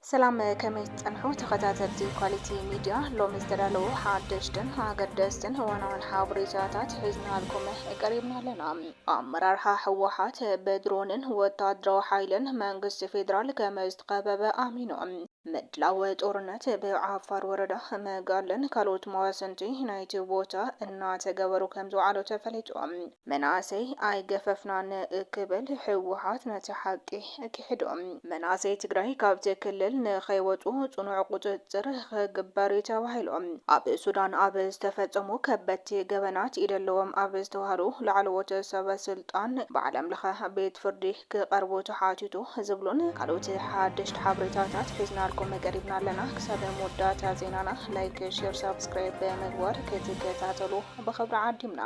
ሰላም ከመይ ትጸንሑ ተኸታተልቲ ኳሊቲ ሚድያ፣ ሎሚ ዝተዳለዉ ሓደሽትን ኣገደስትን እዋናውን ሓበሬታታት ሒዝናልኩም ቀሪብና ኣለና። ኣመራርሓ ህወሓት ብድሮንን ወታደራዊ ሓይልን መንግስቲ ፌዴራል ከምዝተኸበበ ኣሚኑ። ምድላው ጦርነት ብዓፋር ወረዳ መጋለን ካልኦት መዋስንቲ ናይቲ ቦታ እናተገበሩ ከምዝውዓሉ ተፈሊጡ። መናእሰይ ኣይገፈፍናን ክብል ህወሓት ነቲ ሓቂ ኪሕዶ። መናእሰይ ትግራይ ካብቲ ክልል ንኸይወፁ ፅኑዕ ቁፅፅር ኽግበር ዩ ተባሂሉ ኣብ ሱዳን ኣብ ዝተፈፀሙ ከበድቲ ገበናት ኢድ ኣለዎም ኣብ ዝተብሃሉ ላዕለዎት ሰበ ስልጣን ብዓለም ለኸ ቤት ፍርዲ ክቐርቡ ተሓቲቱ ዝብሉን ካልኦት ሓደሽቲ ሓበሬታታት ሒዝናልኩም ቀሪብና ኣለና። ክሳብ መወዳእታ ዜናና ላይክ፣ ሼር፣ ሳብስክራይብ ብምግባር ክትከታተሉ ብኽብሪ ዓዲምና።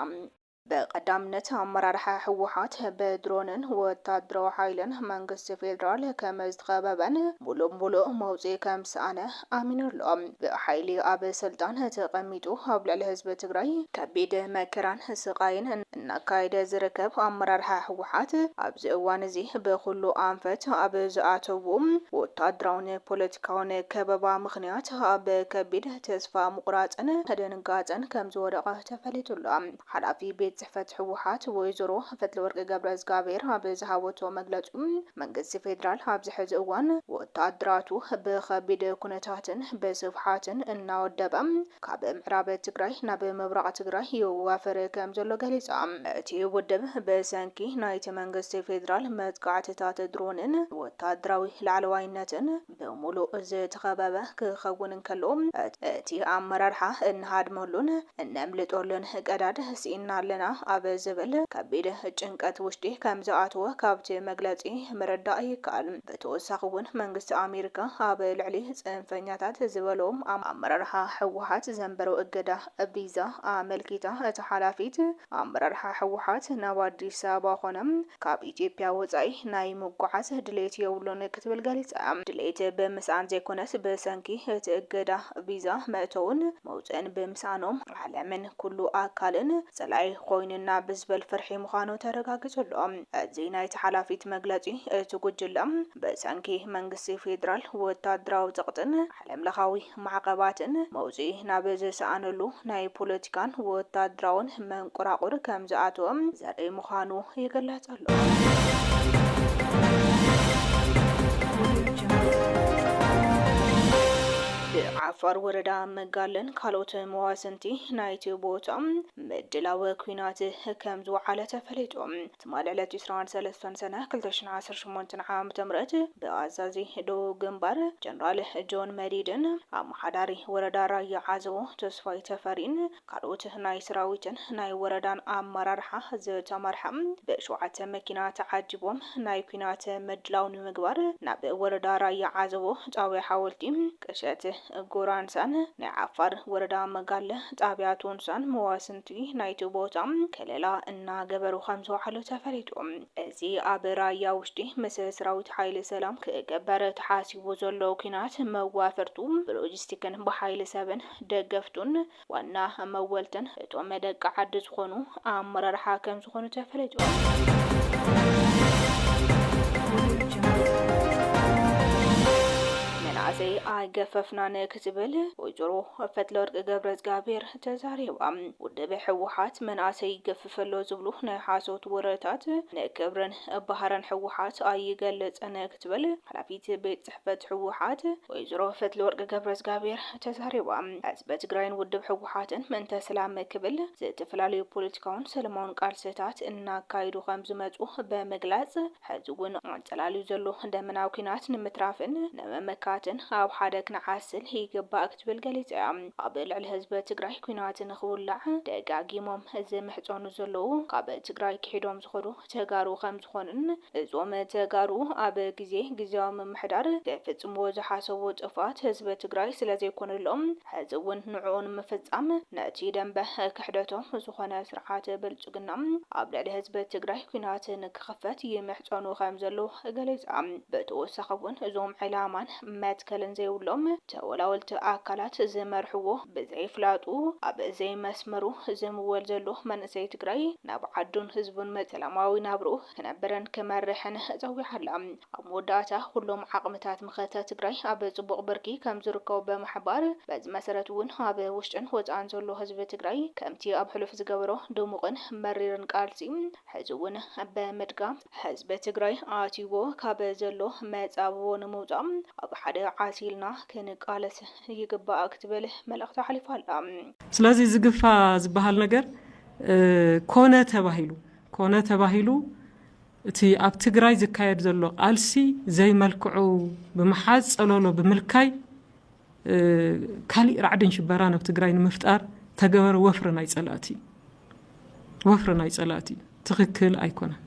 ብቀዳምነት ኣመራርሓ ህወሓት ብድሮንን ወታደራዊ ሓይልን መንግስቲ ፌደራል ከመዝተኸበበን ሙሉእ ሙሉእ መውፅኢ ከምዝሰኣነ ኣሚኑ ኣሎ። ብሓይሊ ኣብ ስልጣን ተቐሚጡ ኣብ ልዕሊ ህዝቢ ትግራይ ከቢድ መከራን ስቓይን እናካየደ ዝርከብ ኣመራርሓ ህወሓት ኣብዚ እዋን እዚ ብኹሉ ኣንፈት ኣብ ዝኣተውዎ ወታደራውን ፖለቲካውን ከበባ ምኽንያት ኣብ ከቢድ ተስፋ ምቑራፅን ድንጋፀን ከምዝወደቐ ተፈሊጡ ኣሎ። ሓላፊ ቤት ፅሕፈት ህወሓት ወይዘሮ ፈትለወርቅ ገብረእዝጋቢሄር ኣብ ዝሃበቶ መግለፂ፣ መንግስቲ ፌዴራል ኣብዚ ሕዚ እዋን ወታደራቱ ብኸቢድ ኩነታትን ብስፍሓትን እናወደበ ካብ ምዕራብ ትግራይ ናብ ምብራቕ ትግራይ የዋፍር ከምዘሎ ገሊፃ። እቲ ውድብ ብሰንኪ ናይቲ መንግስቲ ፌዴራል መጥቃዕትታት ድሮንን ወታደራዊ ላዕለዋይነትን፣ ብምሉእ ዝተኸበበ ክኸውን እንከሎ፣ እቲ ኣመራርሓ እንሃድመሉን እነምልጠሉን ቀዳድ ስኢንና ኣለና ኣብ ዝብል ከቢድ ጭንቀት ውሽጢ ከምዝኣተወ ካብቲ መግለጺ ምርዳእ ይከኣል። ብተወሳኺ'ውን መንግስቲ ኣሜሪካ ኣብ ልዕሊ ጽንፈኛታት ዝበሎ ኣመራርሓ ህወሓት ዘንበሮ እገዳ ቪዛ ኣመልኪታ እታ ሓላፊት ኣመራርሓ ህወሓት ናብ ኣዲስ ኣበባ ኮነ ካብ ኢትዮጵያ ወፃኢ ናይ ምጉዓዝ ድሌት የብሉን ክትብል ገሊፃ። ድሌት ብምስኣን ዘይኮነስ ብሰንኪ እቲ እገዳ ቪዛ መእተውን መውፅእን ብምስኣኖም ዓለምን ኩሉ ኣካልን ፀላኢ ኮይኑና ብዝበል ፍርሒ ምዃኑ ተረጋጊፁ ኣሎ። እዚ ናይቲ ሓላፊት መግለፂ እቲ ጉጅለ ብሰንኪ መንግስቲ ፌዴራል ወታደራዊ ፀቕጥን ዓለምለኻዊ ማዕቐባትን መውጽኢ ናብ ዝሰኣነሉ ናይ ፖለቲካን ወታደራውን መንቆራቑር ከም ዝኣተወ ዘርኢ ምዃኑ ይግለጽ ኣሎ። ብዓፋር ወረዳ መጋለን ካልኦት መዋስንቲ ናይቲ ቦታ ምድላው ኲናት ከም ዝወዓለ ተፈሊጡ። ትማሊ ዕለት ዕስራን ሰለስተን ሰነ ክልተ ሽሕን ዓሰርተ ሸሞንተን ዓም ምት ብኣዛዚ ደቡብ ግንባር ጀነራል ጆን መዲድን ኣመሓዳሪ ወረዳ ራያ ዓዘቦ ተስፋይ ተፈሪን ካልኦት ናይ ሰራዊትን ናይ ወረዳን ኣመራርሓ ዝተመርሐ ብ ሸውዓተ መኪና ተዓጂቦም ናይ ኲናት ምድላው ንምግባር ናብ ወረዳ ራያ ዓዘቦ ጣብያ ሓወልቲ ቅሸት ጎራንሳን ናይ ዓፋር ወረዳ መጋለ ጣብያ ቶንሳን መዋስን እቲ ናይቲ ቦታ ከለላ እናገበሩ ከምዝወዓሉ ተፈሊጡ። እዚ ኣብ ራያ ውሽጢ ምስ ስራዊት ሓይሊ ሰላም ክገበር ተሓሲቡ ዘሎ ኩናት መዋፈርቱ ብሎጂስቲክን ብሓይሊ ሰብን ደገፍቱን ዋና መወልትን እቶም ደቂ ዓዲ ዝኾኑ ኣመራርሓ ከምዝኾኑ ተፈሊጡ። መናእሰይ ኣይገፈፍናን ክትብል ወይዘሮ ፈትለወርቅ ገብረእዝጋቢሄር ተዛሪባ። ውድብ ህወሓት መንኣሰይ ይገፍፍ ኣሎ ዝብሉ ናይ ሓሶት ወረታት ንክብርን ባህርን ህወሓት ኣይገልፅን ክትብል ሓላፊት ቤት ፅሕፈት ህወሓት ወይዘሮ ፈትለወርቅ ገብረዝጋቢሄር ተዛሪባ። ህዝቢ ትግራይን ውድብ ህወሓትን ምእንተ ሰላም ክብል ዝተፈላለዩ ፖለቲካውን ሰለማውን ቃልስታት እናካይዱ ከምዝመፁ ብምግላፅ፣ ሕዚ እውን ኣንጸላልዩ ዘሎ ደመናዊ ኲናት ንምትራፍን ንምምካትን ኣብ ሓደ ክንዓስል ይግባእ ክትብል ገሊጻ እያ። ኣብ ልዕሊ ህዝቢ ትግራይ ኲናት ንኽውላዕ ደጋጊሞም ዝምሕጸኑ ዘለዉ ካብ ትግራይ ክሒዶም ዝኸዱ ተጋሩ ከምዝኾኑን እዞም ተጋሩ ኣብ ግዜ ግዝያዊ ምምሕዳር ክፍጽምዎ ዝሓሰቡ ጥፍኣት ህዝቢ ትግራይ ስለዘይኮነሎም ሕዚ እውን ንዕኡ ንምፍጻም ነቲ ደምበ ክሕደቶም ዝኾነ ስርዓት ብልፅግና ኣብ ልዕሊ ህዝቢ ትግራይ ኲናት ንክኽፈት ይምሕፀኑ ከምዘለዉ ገሊፃ። ብተወሳኺ እውን እዞም ዕላማን መትከልን ዘይብሎም ተወላወልቲ ኣካላት ዝመርሕዎ ብዘይፍላጡ ኣብ ዘይመስመሩ ዝምወል ዘሎ መንእሰይ ትግራይ ናብ ዓዱን ህዝቡን ሰላማዊ ናብርኡ ክነብርን ክመርሕን ጸዊዓ ኣላ። ኣብ መወዳእታ ኩሎም ዓቕምታት መኸተ ትግራይ ኣብ ጽቡቕ ብርኪ ከምዝርከቡ ብምሕባር፣ በዚ መሰረት እውን ኣብ ውሽጥን ወጻእን ዘሎ ህዝቢ ትግራይ ከምቲ ኣብ ሕሉፍ ዝገበሮ ድሙቕን መሪርን ቃልሲ ሕዚ እውን ብምድጋም፣ ህዝቢ ትግራይ ኣትዩዎ ካብ ዘሎ መጻብቦ ንምውጻእ ኣብ ሓደ ዓስ ኢልና ክንቃለስ ይግባእ ክትብል መልእኽታ ኣሕሊፋ ኣላ። ስለዚ እዚ ግፋ ዝበሃል ነገር ኮነ ተባሂሉ ኮነ ተባሂሉ እቲ ኣብ ትግራይ ዝካየድ ዘሎ ቃልሲ ዘይመልክዑ ብምሓዝ ፀሎሎ ብምልካይ ካሊእ ራዕድን ሽበራን ኣብ ትግራይ ንምፍጣር ተገበረ ወፍሪ ናይ ፀላእቲ ወፍሪ ናይ ፀላእቲ ትክክል ኣይኮነን።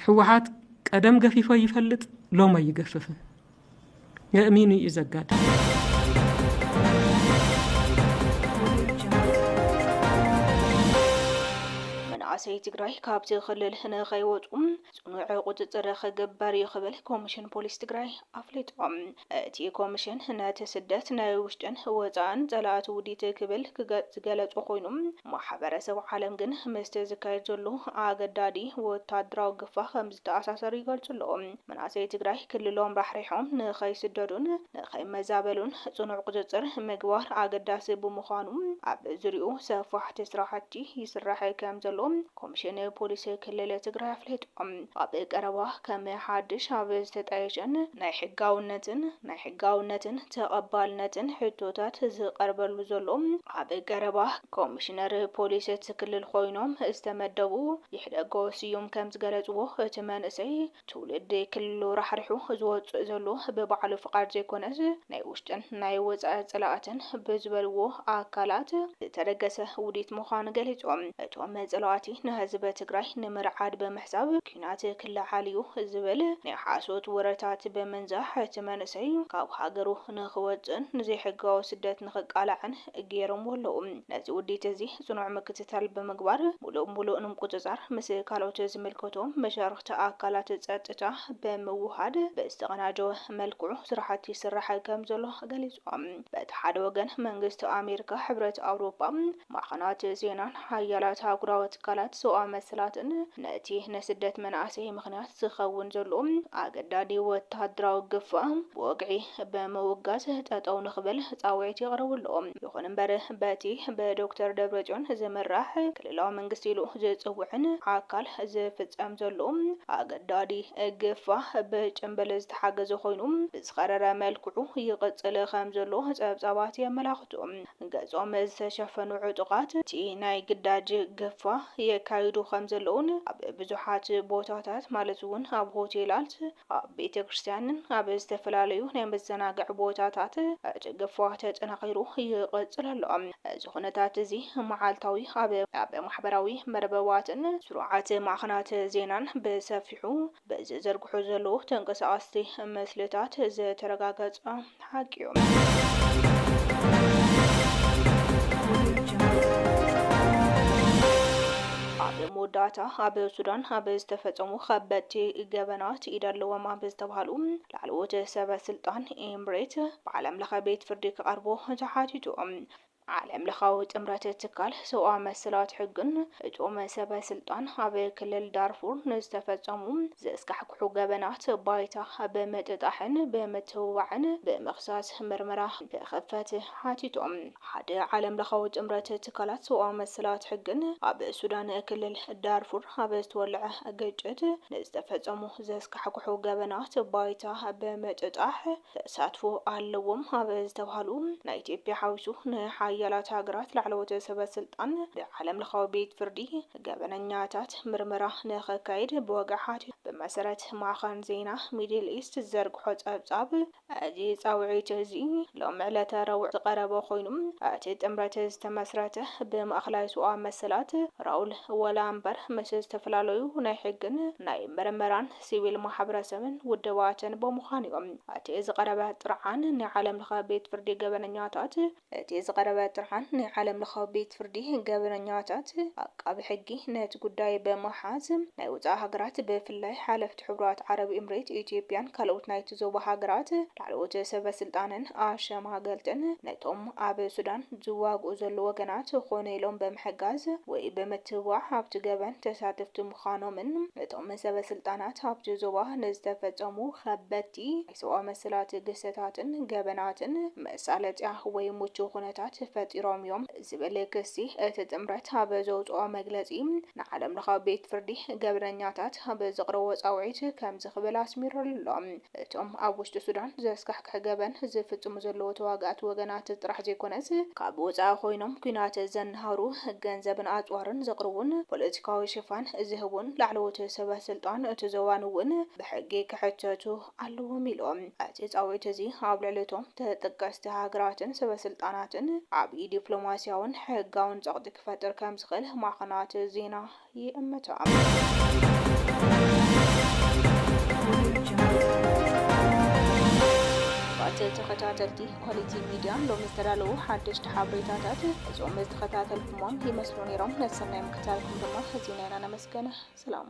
ሕወሓት ቀደም ገፊፎ ይፈልጥ ሎሞ ይገፍፍን የእሚኑ እዩ ዘጋጥምመንእሰይ ትግራይ ካብቲ ክልል ንኸይወፁ ፅኑዕ ቁፅፅር ክግበር እዩ ክብል ኮሚሽን ፖሊስ ትግራይ ኣፍሊጦም እቲ ኮሚሽን ነቲ ስደት ናይ ውሽጥን ወፃእን ፀላእቲ ውዲት ክብል ዝገለፁ ኮይኑ ማሕበረሰብ ዓለም ግን ምስቲ ዝካየድ ዘሎ ኣገዳዲ ወታደራዊ ግፋ ከም ዝተኣሳሰር ይገልፁ ኣለዎ መናእሰይ ትግራይ ክልሎም ራሕሪሖም ንኸይስደዱን ንኸይመዛበሉን ፅኑዕ ቁፅፅር ምግባር ኣገዳሲ ብምዃኑ ኣብ ዙርይኡ ሰፋሕቲ ስራሕቲ ይስራሕ ከምዘሎ ኮሚሽን ፖሊስ ክልል ትግራይ ኣፍሊጦም። ኣብ ቀረባ ከም ሓድሽ ኣብ ዝተጣየሸን ናይ ሕጋውነትን ናይ ሕጋውነትን ተቐባልነትን ሕቶታት ዝቐርበሉ ዘሎ ኣብ ቀረባ ኮሚሽነር ፖሊስ እቲ ክልል ኾይኖም ዝተመደቡ ይሕደጎ ስዩም ከምዝገለፅዎ፣ እቲ መንእሰይ ትውልዲ ክልሉ ራሕሪሑ ዝወፅእ ዘሎ ብባዕሉ ፍቓድ ዘይኮነስ ናይ ውሽጥን ናይ ወፃኢ ፀላእትን ብዝበልዎ ኣካላት ዝተደገሰ ውዲት ምዃኑ ገሊፆም። እቶም ፀላእቲ ንህዝቢ ትግራይ ንምርዓድ ብምሕሳብ ኲናት ክለዓል እዩ ዝብል ናይ ሓሶት ወረታት ብምንዛሕ እቲ መንእሰይ ካብ ሃገሩ ንኽወፅእን ንዘይሕጋዊ ስደት ንኽቃላዕን ገይሮምዎ ኣለዉ። ነዚ ውዲት እዚ ጽኑዕ ምክትታል ብምግባር ሙሉእ ብሙሉእ ንምቁጽጻር ምስ ካልኦት ዝምልከቶም መሻርኽቲ ኣካላት ጸጥታ ብምውህሃድ ብዝተቐናጀወ መልክዑ ስራሕቲ ይስራሕ ከምዘሎ ገሊጾም። በቲ ሓደ ወገን መንግስቲ ኣሜሪካ፣ ሕብረት ኣውሮጳ፣ ማዕኸናት ዜናን ሓያላት ኣህጉራዊ ትካላት ሰብኣዊ መሰላትን ነቲ ንስደት መናእሰይ ምኽንያት ዝኸውን ዘሎ ኣገዳዲ ወተሃደራዊ ግፋ ብወግዒ ብምውጋዝ ጠጠው ንኽብል ፃውዒት የቕርቡ ኣለዉ። ይኹን እምበር በቲ ብዶክተር ደብረፅዮን ዝምራሕ ክልላዊ መንግስቲ ኢሉ ዝፅውዕን ኣካል ዝፍፀም ዘሎ ኣገዳዲ ግፋ ብጭምብል ዝተሓገዘ ኮይኑ ብዝኸረረ መልክዑ ይቕፅል ከምዘሎ ፀብፃባት የመላኽቱ። ገፆም ዝተሸፈኑ ዕጡቓት እቲ ናይ ግዳጅ ግፋ የካይዱ ከምዘለዉን ኣብ ብዙሓት ቦታታት ማለት እውን ኣብ ሆቴላት፣ ኣብ ቤተ ክርስቲያንን ኣብ ዝተፈላለዩ ናይ መዘናግዒ ቦታታት እቲ ግፋ ተጠናኺሩ ይቕጽል ኣሎ። እዚ ኩነታት እዚ መዓልታዊ ኣብ ኣብ ማሕበራዊ መርበባትን ስሩዓት ማዕኸናት ዜናን ብሰፊሑ ብዝዝርግሑ ዘለዉ ተንቀሳቐስቲ ምስልታት ዝተረጋገጸ ሓቂ'ዩ። ኣብ መወዳእታ ኣብ ሱዳን ኣብ ዝተፈጸሙ ከበድቲ ገበናት ኢድ ኣለዎም ኣብ ዝተብሃሉ ላዕለዎት ሰበ ስልጣን ኤምሬት ብዓለም ለኸ ቤት ፍርዲ ክቐርቡ ተሓቲቱ። ዓለም ለኻዊ ጥምረት ትካል ሰብኣዊ መሰላት ሕግን እቶም ሰበ ስልጣን ኣብ ክልል ዳርፉር ንዝተፈጸሙ ዘስካሕክሑ ገበናት ባይታ ብምጥጣሕን ብምትብባዕን ብምኽሳስ ምርመራ ንክኽፈት ሓቲቶም። ሓደ ዓለም ለኻዊ ጥምረት ትካላት ሰብኣዊ መሰላት ሕግን ኣብ ሱዳን ክልል ዳርፉር ኣብ ዝተወለዐ ግጭት ንዝተፈጸሙ ዘስካሕክሑ ገበናት ባይታ ብምጥጣሕ ተሳትፎ ኣለዎም ኣብ ዝተብሃሉ ናይ ኢትዮጵያ ሓዊሱ ንሓያላት ሃገራት ላዕለዎት ሰበ ስልጣን ብዓለም ለኻዊ ቤት ፍርዲ ገበነኛታት ምርመራ ንኸካይድ ብወግዒ ሓቲቱ ብመሰረት ማዕኸን ዜና ሚድል ኢስት ዝዘርግሖ ፀብፃብ እዚ ፃውዒት እዚ ሎሚ ዕለተ ረቡዕ ዝቐረበ ኮይኑ እቲ ጥምረት ዝተመስረተ ብማእኸላይ ሰብኣዊ መሰላት ራውል ወላምበር ምስ ዝተፈላለዩ ናይ ሕግን ናይ ምርመራን ሲቪል ማሕብረሰብን ውድባትን ብምዃን እዩ። እቲ ዝቐረበ ጥርዓን ናይ ዓለም ለኸ ቤት ፍርዲ ገበነኛታት እቲ ዝቐረበ ጥርዓን ናይ ዓለም ለኸ ቤት ፍርዲ ገበነኛታት ዓቃቢ ሕጊ ነቲ ጉዳይ ብምሓዝ ናይ ወፃኢ ሃገራት ብፍላይ ሓለፍቲ ሕቡራት ዓረብ ኢምሬት ኢትዮጵያን ካልኦት ናይቲ ዞባ ሃገራት ላዕለዎት ሰበ ስልጣንን ኣሸማገልትን ነቶም ኣብ ሱዳን ዝዋግኡ ዘለዉ ወገናት ኮነ ኢሎም ብምሕጋዝ ወይ ብምትብባዕ ኣብቲ ገበን ተሳተፍቲ ምዃኖምን እቶም ሰበስልጣናት ኣብቲ ዞባ ንዝተፈጸሙ ከበድቲ ናይ ሰብኣዊ መሰላት ግህሰታትን ገበናትን መሳለጥያ ወይ ምቹው ኩነታት ፈጢሮም እዮም ዝብል ክሲ እቲ ጥምረት ኣብ ዘውጽኦ መግለጺ ንዓለምለኻዊ ቤት ፍርዲ ገበነኛታት ኣብ ዘቕረቦ ጻውዒት ከምዚ ክብል ኣስሚሩ'ሎ እቶም ኣብ ውሽጢ ሱዳን ዘስካሕክሑ ሓቂ ገበን ዝፍጽሙ ዘለዉ ተዋጋእቲ ወገናት ጥራሕ ዘይኮነስ፣ ካብ ወጻኢ ኮይኖም ኲናት ዘናህሩ፣ ገንዘብን ኣጽዋርን ዘቕርቡን ፖለቲካዊ ሽፋን ዝህቡን ላዕለዎት ሰበስልጣን እቲ ዞባን እውን ብሕጊ ክሕተቱ ኣለዎም ኢሉ። እቲ ጻዊዒት እዚ ኣብ ልዕሊ እቶም ተጠቀስቲ ሃገራትን ሰበስልጣናትን ዓብዪ ዲፕሎማስያውን ሕጋውን ጸቕጢ ክፈጥር ከምዝኽእል ማዕኸናት ዜና ይእምቶ ኣቶ ተኸታተልቲ ኳሊቲ ሚድያ ሎሚ ዝተዳለዉ ሓደሽቲ ሓበሬታታት እዞም ዝተኸታተልኩሞም ይመስሉ ነይሮም ነሰናይ ምክታልኩም ድማ ህዝብና ኢና ነመስገን ሰላም